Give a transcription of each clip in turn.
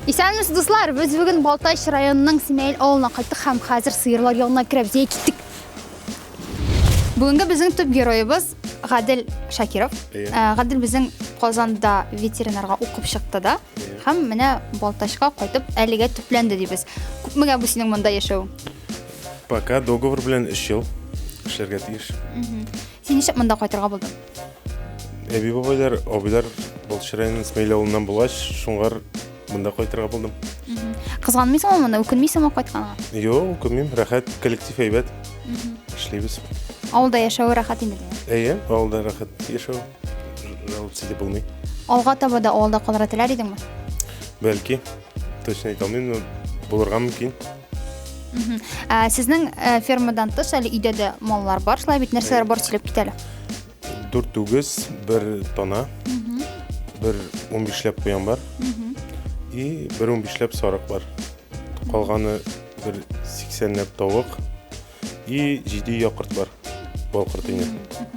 Исәнмесез, дуслар! Без бүген Балтач районының Симәйел авылына кайттык һәм хәзер сыерлар янына керәбез. Әйе, киттек. Бүгенге безнең төп героебыз Гадел Шакиров. Э, Гадел безнең Казанда ветеринарга укып чыкты да. Һәм менә Балтачка кайтып әлегә төпләнде дибез. Күпмегә бу синең монда яшәү? Пока договор белән 3 ел эшләргә тиеш. Син ничек монда кайтырга булдың? Әби бабайлар, абыйлар Балтач районының Смәйлә авылыннан булгач, шуңар Монда кайтырга булдым. Кызганмыйсыңмы монда? Үкенмисеңме кайтканга? Юк, үкенмим. Рәхәт, коллектив әйбәт. Эшлибез. Авылда яшәве рәхәт инде. Әйе, авылда рәхәт яшәү. Жаловаться итеп булмый. Алга таба да авылда калырга теләр идеңме? Бәлки, точно әйтә алмыйм, но булырга мөмкин. Ә, Сезнең ә, фермадан тыш әле өйдә дә маллар бар, шулай бит нәрсәләр бар сөйләп кит әле. Дүрт үгез, бер тана, бер унбишләп куян бар и бер унбишләп сарык бар. Калганы бер сиксәнләп тавык и җиде якорт бар. Балкорт ине.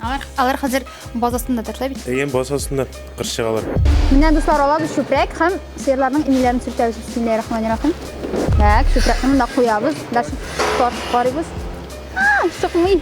Алар, алар хәзер базасында торса бит. Әйе, базасында кыр чыгалар. Менә дуслар алабыз чүпрәк һәм сыерларның инеләрен сүртәбез. Бисмиллаһиррахманиррахим. Так, чүпрәкне монда куябыз. Дальше карыйбыз. А, чыкмый.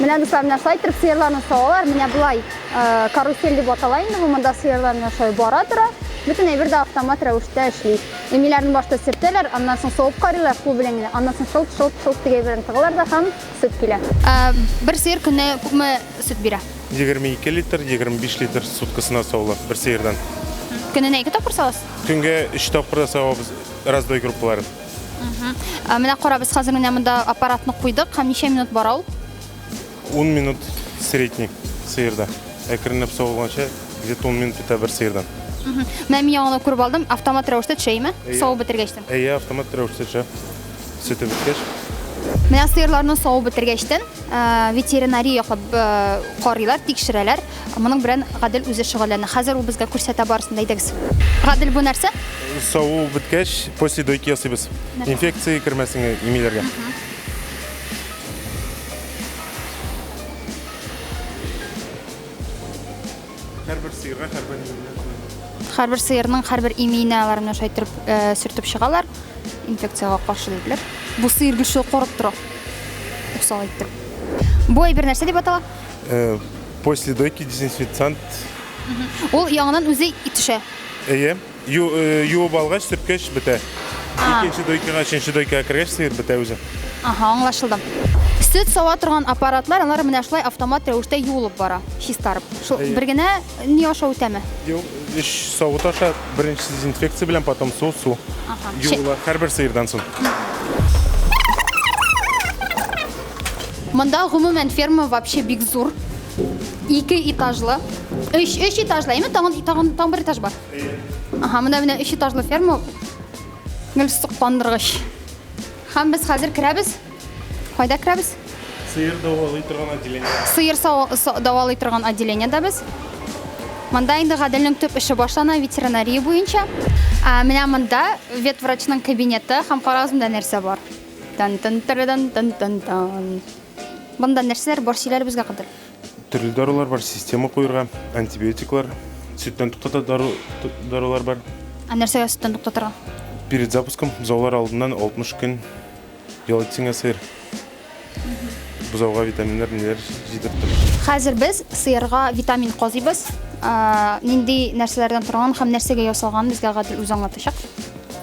Менә дуслар, менә шулай итеп сыерларны савалар. Менә болай э, карусель дип атала инде. Бу монда сыерлар менә шулай бара тора. Бөтен әйбер дә автомат рәвештә эшли. Эмиләрне башта сөртәләр, аннан соң савып карыйлар су белән генә. Аннан соң шылт шылт шылт дип әйберен тыгылар да һәм сөт килә. Ә, бер сыер көнне күпме сөт бирә? 22 литр, 25 литр суткасына савыла бер сыердан. Көненә ике тапкыр савасыз? Көнгә 3 тапкыр да савабыз раздой группаларын. Ә менә карабыз хәзер менә монда аппаратны куйдык һәм ничә минут бара ул? 10 минут средний сыерда. Әкренләп савылганча, где-то 10 минут бетә бер сыердан. Менә мин яңа күреп алдым, автомат рәвештә төшәме? Савып бетергәчтен. Әйе, автомат рәвештә төшә. Сөте беткәч. Менә сыерларны савып бетергәчтен ветеринария яклап карыйлар, тикшерәләр. Моның белән Гадел үзе шөгыльләнә. Хәзер ул безгә күрсәтә барысын да әйдәгез. Гадел бу нәрсә? Саву беткәч, после дойки ясыйбыз. Инфекция кермәсен имиләргә. Һәрбер сыерга һәрбер имиенә куелган. Һәрбер сыерның һәрбер имиенә алар менә шулай торып э, сөртеп чыгалар. Инфекциягә каршы диделәр. Бу сыер гел шулай карап тора. Усал итеп. Бу әйбер нәрсә дип атала? Э, после дойки дезинфекциант. Ул яңадан үзе төшә. Әйе. Э, юып алгач, сөрткәч бетә. Икенче дойкага, өченче дойкага кергәч, сыер бетә үзе. Ага, аңлашылды. Сөт сава торган аппаратлар, алар менә шулай автомат рәвештә юылып бара, чистарып. Шул бер генә ни аша үтәме? Юк, өч савыт аша беренче дезинфекция белән, потом су, су. Ага. Юыла һәрбер сыердан соң. Монда гомумән ферма вообще бик зур. Ике этажлы. Өч, өч этажлы, әйме? Тагын, тагын, тагын бер этаж бар. Аха, монда менә өч этажлы ферма. Гел сокландыргыч. Хәм без хәзер керәбез. Кайда керәбез? Сыер давалый торган отделение. Сыер давалый торган отделение да без. Монда инде гаделнең төп эше башлана ветеринария буенча. Ә менә монда ветврачның кабинеты һәм карагыз нәрсә бар. тан тан тарадан тан тан тан Монда нәрсәләр бар сөйләр безгә кадәр? Төрле дарулар бар, система куерга, антибиотиклар, сөттән туктата дару, дарулар бар. Ә нәрсәгә сөттән туктатырга? Перед запуском бозаулар алдыннан 60 көн ял итсеңә сыер. Бозауга витаминнар, ниләр җитеп тор. Хәзер без сыерга витамин казыйбыз. Нинди нәрсәләрдән торган һәм нәрсәгә ясалган безгә гадел үз аңлатачак.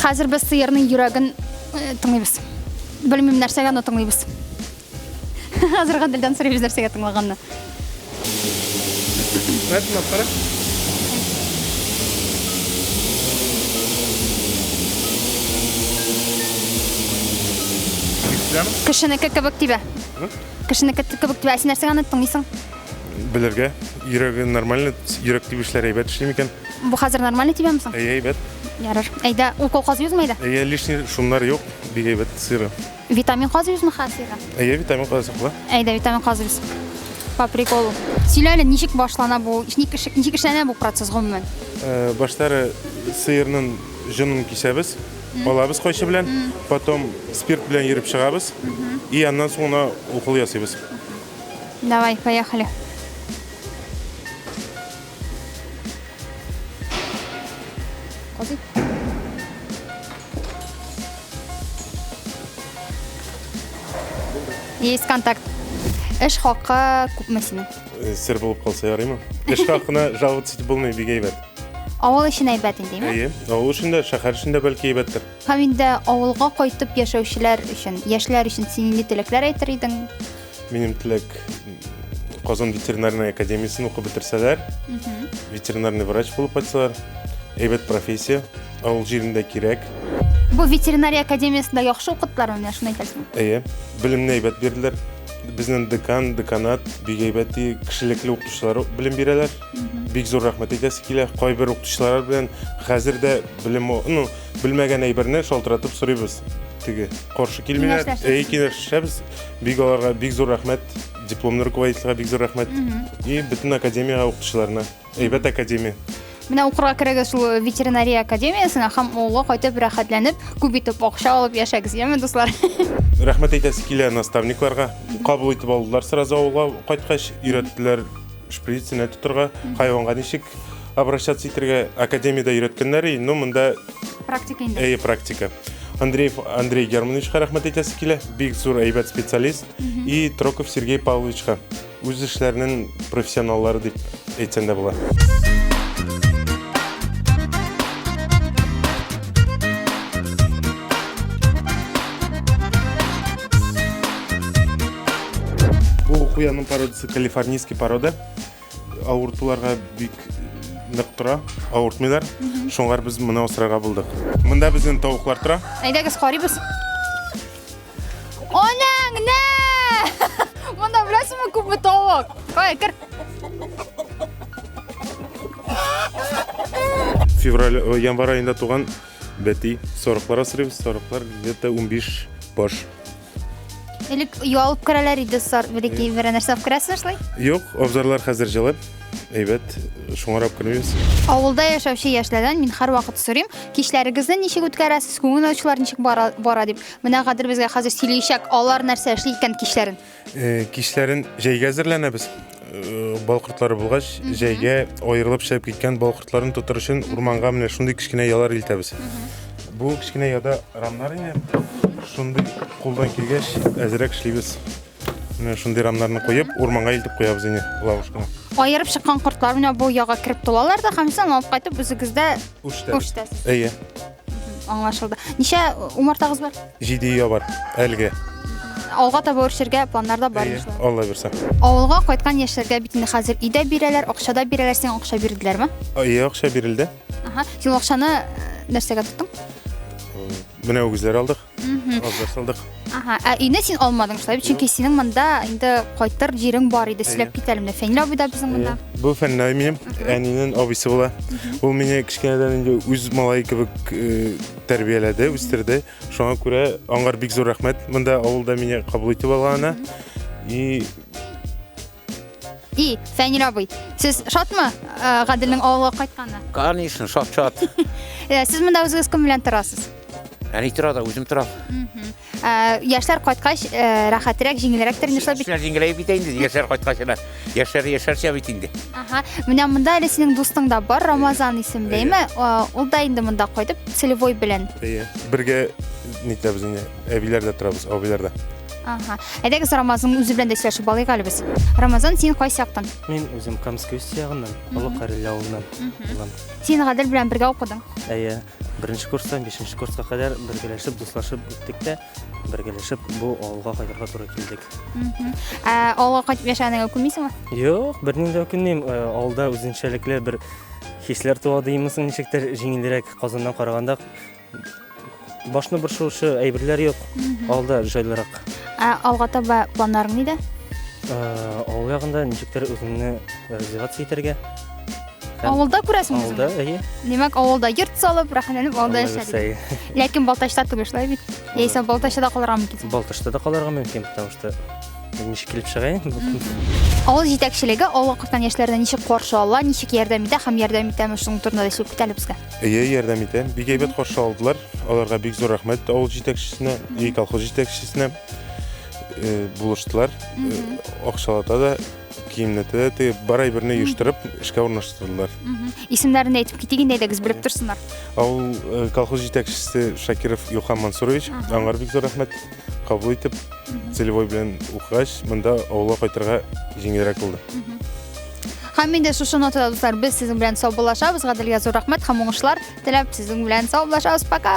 Хәзер без сыерның йөрәген э, тыңлыйбыз. Белмим нәрсәгә но тыңлыйбыз. Хәзер гаделдән сорыйбыз нәрсәгә тыңлаганны. Мәтмә кара. Кешенеке кебек тибә. Кешенеке кебек тибә. Ә син нәрсәгә аны тыңлыйсың? белергә, йөрәге нормально, йөрәк тибешләре әйбәт эшли микән? Бу хәзер нормально тибәме соң? Әйе, әйбәт. Ярар. Әйдә, укол казыйсызмы әйдә? Әйе, лишний шумнар юк, бик әйбәт сыйра. Витамин казыйсызмы хәзер? Әйе, витамин казыйсыз була. Әйдә, витамин казыйбыз. По приколу. Сөйлә әле, ничек башлана бу? Ничек эш- ничек эшләнә бу процесс гомумән? Э, Баштары сыерның җонын кисәбез, алабыз кайчы белән, потом спирт белән ерып чыгабыз, и аннан соң гына укол ясыйбыз. Давай, поехали. Ходи. Есть контакт. Эш хакы күпме синең? Э, сер булып калса ярыймы? Эш хакына жаловаться итеп булмый, бик әйбәт. Авыл өчен әйбәт инде, әйе? Әйе, авыл өчен дә, шәһәр өчен дә бәлки әйбәттер. Һәм инде авылга кайтып яшәүчеләр өчен, яшьләр өчен син нинди теләкләр әйтер идең? Минем теләк Казан ветеринарный академиясен укып бетерсәләр, ветеринарный врач булып кайтсалар, әйбәт профессия, авыл җирендә кирәк. Бу ветеринария академиясендә яхшы укыттылар менә шуны әйтәсең. Әйе, белемне әйбәт бирделәр. Безнең декан, деканат бик әйбәт кешелекле укытучылар белем бирәләр. Бик зур рәхмәт әйтәсе килә. Кайбер укытучылар белән хәзер дә белем, ну, Белмәгән әйберне шалтыратып сорыйбыз. Теге каршы килмиләр. Әй, киңәшәбез. Бик аларга бик зур рәхмәт. Дипломны руководительгә бик зур рәхмәт. И бөтен академиягә укытучыларына. Әйбәт академия. Менә укырга керегез шул ветеринария академиясенә һәм авылга кайтып рәхәтләнеп, күп итеп акча алып яшәгез, яме дуслар. Рәхмәт әйтәсе килә наставникларга. Кабул итеп алдылар сразу авылга кайткач, өйрәттеләр Шприцына тотырга, хайванга ничек обращаться итергә академиядә өйрәткәннәр и, ну монда Практика инде. әйе практика. Андреев Андрей Германовичка рәхмәт әйтәсе килә, бик зур әйбәт специалист и Троков Сергей Павловичка үз эшләренең профессионаллары дип әйтсәң дә була. Бу куянның пародиясе Калифорнийский порода авыртуларга бик нык тора, авыртмыйлар. Шуңар без моны асрарга булдык. Монда безнең тавыклар тора. Әйдәгез карыйбыз. Анаң, нә! Монда беләсеңме күпме тавык? Кай, кер. Февраль, э, январь айында туган бәти сорыклар асрыйбыз. Сорыклар где-то 15 баш. Элек оя алып керәләр иде сар, бәләкәй берәр нәрсә алып керәсезме шулай? Юк, абзарлар хәзер җылып, әйбәт, шуңарап кермибез. Авылда яшәүче яшьләрдән мин һәрвакыт сорыйм, кичләрегезне ничек үткәрәсез, күңел ачулар ничек бара, бара дип. Менә Гадел безгә хәзер сөйлиячәк, алар нәрсә эшли икән кичләрен. Э, Кичләрен җәйгә әзерләнәбез. Э, бал кортлары булгач, җәйгә аерылып чыгып киткән бал кортларын тотыр өчен урманга менә шундый кечкенә ялар илтәбез. Бу кечкенә яда рамнар ине. Шундый кулдан килгәч, әзрәк эшлибез. Менә шундый рамнарны куеп, урманга илтеп куябыз ине лавышканы. Аерып чыккан кортлар менә бу яга кереп тулалар да, һәм сез алып кайтып үзегездә үштәсез. Әйе. Аңлашылды. Ничә умартагыз бар? Җиде өйә бар, әлге. Алга таба үрчергә планнар да бар иншалла. Алла бирсә. Авылга кайткан яшьләргә бит инде хәзер өйдә бирәләр, акча да бирәләр, сиңа акча бирделәрме? Әйе, акча бирелде. Ага. Син акчаны э, нәрсәгә тоттың? Менә үгезләр алдык. Мгм. Разга салдык. Ага, ә өйне син алмадың шулай, чөнки синең монда инде кайтыр җирең бар иде. Сөйләп кит әле менә Фәнил абый да безнең монда. Э, Бу Фәннай минем, әнинен абыйсы була. Ул мине кечкенәдән инде үз малае кебек э, тәрбияләде, үстерде. Шуңа күрә аңар бик зур рәхмәт. Монда авылда мине кабул итеп алганына. И И, Фәнил абый, сез шатмы э, Гаделнең авылга кайтканына? Конечно, шат шат. Э, Сез монда үзегез кем белән торасыз? Әни тора да үзем торам. Мгм. Э, Яшьләр кайткач, э, рәхәтрәк, җиңелрәк тә инде шулай бит. Яшьләр җиңеләеп бит инде, яшьләр кайткач ана. Яшьләр яшәрчә бит инде. Ага. Менә монда әле синең дустың да бар, Рамазан исемлеме? Э, Ул да инде монда кайтып, целевой белән. Әйе. Бергә нитәбез инде. Әбиләрдә торабыз, абыйларда. Ага. Әйдәгез Рамазның үзе белән дә сөйләшеп алыйк әле без. Рамазан, син кайсы яктан? Мин үзем Камское үз ягыннан, Олы Кареле авылыннан булам. Син Гадел белән бергә укыдың. Әйе, беренче курстан бишенче курска кадәр бергәләшеп, дуслашып үттек тә, бергәләшеп бу авылга кайтырга туры килдек. Ә, Авылга кайтып яшәгәнеңә үкенмисеңме? Юк, бернинди дә үкенмим. Э, Авылда үзенчәлекле бер хисләр туа димесең, ничектер җиңелрәк Казаннан караганда Башны борчуучы әйберләр юк. Алда җайлырак. Ә алга таба планнарың нидә? Ә, Авыл ягында ничектер үзеңне реализация итәргә. Һәм Авылда күрәсең Авылда, үзеңне. әйе. Димәк, авылда йорт салып, рәхәтләнеп авылда Авылда яшәргә. яшәйм. Ләкин Балтачта түгел шулай бит. Яисә Балтачта калырга мөмкин. Балтачта да калырга мөмкин, потому что ничек килеп чыгайын? Авыл җитәкчелеге авыл кыртан яшьләренә ничек каршы ала, ничек ярдәм итә һәм ярдәм итәме шуның турында да сөйләп китәле безгә. Әйе, ярдәм итә. Бик әйбәт каршы алдылар. Аларга бик зур рәхмәт авыл җитәкчесенә, и колхоз җитәкчесенә. Э, булыштылар. Э, Акчалата да, киемнәтә дә тегеп, бар әйберне оештырып, эшкә урнаштырдылар. Исемнәрен әйтеп китик инде әйдәгез белеп торсыннар. Авыл э, колхоз җитәкчесе Шакиров Юхан Мансурович, Ага. аңар бик зур рәхмәт кабул итеп, целевой белән укыгач, монда авылга кайтырга җиңелрәк булды. Һәм инде шушы нотада дуслар без сезнең белән саубуллашабыз. Гаделгә зур рәхмәт һәм уңышлар теләп сезнең белән саубуллашабыз. Пока!